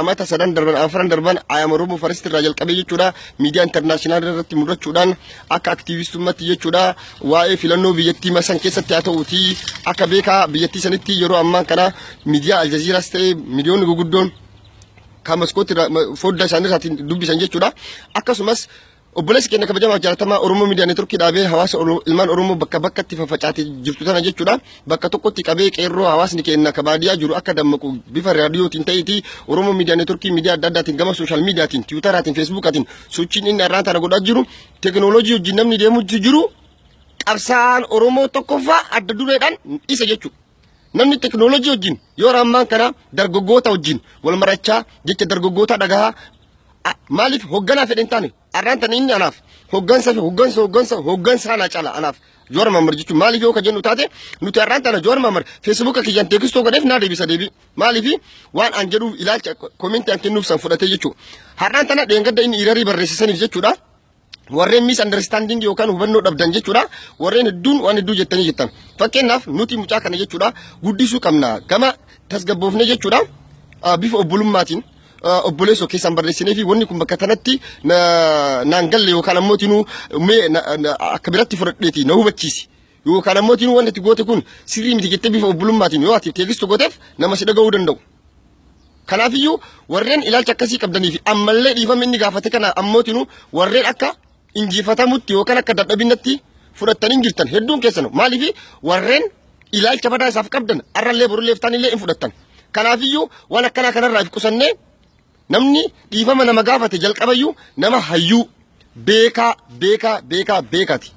amata sadan darban afran darban ayam oromo faristi irraa jalqabee jechuudha miidiyaa intarnaashinaal irratti mul'achuudhaan akka aktiivistummatti jechuudha waa'ee filannoo biyyattii masan keessatti haa ta'uuti akka beekaa biyyattii sanitti yeroo ammaa kana miidiyaa aljaziiraas ta'e miidiyoonni guguddoon kan maskootti fodda isaanii irraatiin dubbisan jechuudha akkasumas Obboleessi keenya kabajamaa fi jaalatamaa Oromoo Miidiyaa Neetworkii dhaabee hawaasa Oro- ilmaan Oromoo bakka bakkatti faffacaatee jirtu tana jechuudha. Bakka tokkotti qabee qeerroo hawaasni keenya ka baadiyyaa jiru akka dammaqu bifa raadiyootiin ta'eeti Oromoo Miidiyaa Neetworkii miidiyaa adda addaatiin gama sooshaal miidiyaatiin, tiwutaraatiin, feesbuukaatiin sochiin inni har'aan tana godhaa jiru teekinooloojii wajjin namni deemutti jiru qabsaa'aan Oromoo tokkoffaa adda dureedhaan isa jechuudha. Namni teknoolojii wajjin yeroo ammaan kana dargaggoota wajjin wal marachaa jecha dargaggoota dhagahaa a- maaliif hogganaa fedhe hin taane arraan tana inni anaaf hoggansa fi hoggansa hoggansa hoggansa ana cala anaaf Jowaar Mahammad jechuun maaliif yoo ka jennu taate nuti arraan tana Jowaar Mahammad feesbuuka kiyyaan teekistoo godheef naa deebisa deebii maaliif waan an jedhuuf ilaalcha komentii an kennuuf san fudhatee jechuudha. Har'aan tana dheengadda inni irarii barreessisaniif jechuudha. warreen miis andarstaandingi yookaan hubannoo dhabdan jechuudha warreen hedduun waan hedduu jettanii jettan fakkeenyaaf nuti mucaa kana jechuudha guddisuu qabna gama tasgabboofne jechuudha ah, bifa obbolummaatiin ah, obboleessoo keessaan barreessinee fi wanni kun bakka tanatti na- naan galle yookaan ammoo tinuu mee na- na- akka biratti fudhadheeti na hubachiisi Yoo kan ammoo tiin wanti itti goote kun sirrii miti jettee bifa obbulummaatiin yoo ati teegistu gooteef nama si dhaga'uu danda'u. Kanaafiyyuu warreen ilaalcha akkasii qabdanii fi ammallee dhiifama inni gaafate kana ammootiin warreen akka injifatamutti yookaan akka dadhabinatti fudhattanii jirtan hedduun keessan maaliif warreen ilaalcha badaa isaaf qabdan arrallee borullee iftaanillee hin fudhattan. Kanaafiyyuu waan akkanaa kanarraa if qusannee Namni dhiifama nama gaafate jalqabayyuu nama hayyuu beekaa beekaa beekaa beekati.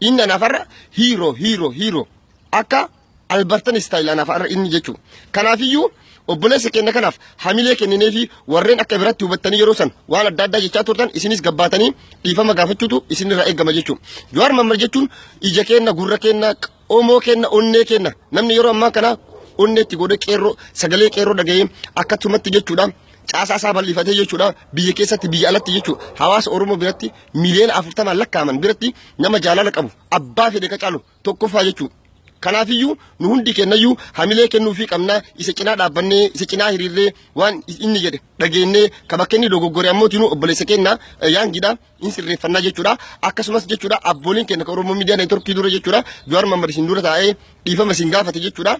Inni anaaf har'a hiiroo hiiroo hiiroo akka albartan istaayil anaaf har'a inni jechuudha. Kanaafiyyuu obboleessa keenya kanaaf hamilee kenninee fi warreen akka biratti hubattanii yeroo san waan adda addaa jechaa turtan isinis gabbaatanii dhiifama gaafachuutu isinirraa eegama jechuudha. Jawaar Mammad jechuun ija keenna gurra keenna Omoo kenna onnee kenna namni yeroo ammaa kana onnee itti godhee qeerroo sagalee qeerroo dhaga'ee akkasumatti jechuudha caasaa isaa bal'ifatee jechuudha biyya keessatti biyya alatti jechuudha hawaasa Oromoo biratti miliyoona afurtamaan lakkaa'aman biratti nama jaalala qabu abbaa fedhe ka caalu tokkoffaa jechuudha. Kanaafiyyuu nu hundi kennayyuu hamilee kennuufii qabnaa isa cinaa dhaabbannee isa cinaa hiriirree waan inni jedhe dhageennee ka bakka inni dogoggore ammoo tinuu obboleessa keenya yaangidha. hin sirreeffannaa jechuudha. Akkasumas jechuudha abbooliin keenya kan Oromoo Miidiyaa Neetworkii dura jechuudha Jawaar Mohaammed isin dura taa'ee dhiifama isin gaafate jechuudha.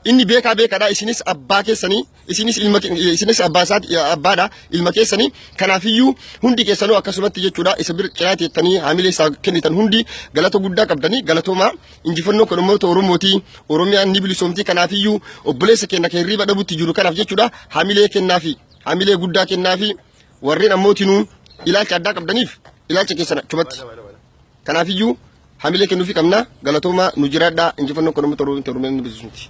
inni beekaa beekaadha isinis abbaa keessanii isinis ilma isinis abbaa isaati abbaadha ilma keessanii kanaafiyyuu hundi keessanuu akkasumatti jechuudha isa bira cinaa teettanii haamilee isaa kennitan hundi galata guddaa qabdanii galatoomaa injifannoo kan uummata oromootii oromiyaan ni bilisoomtii kanaafiyyuu obboleessa keenya kan hirriiba dhabutti jiru kanaaf jechuudha haamilee kennaafi haamilee guddaa kennaafi warreen ammootinuu ilaalcha addaa qabdaniif ilaalcha keessan achumatti. Kanaafiyyuu hamilee kennuufii qabna galatoomaa nu jiraadhaa injifannoo kan uummata Oromoo Oromiyaa ni beeksisuuti.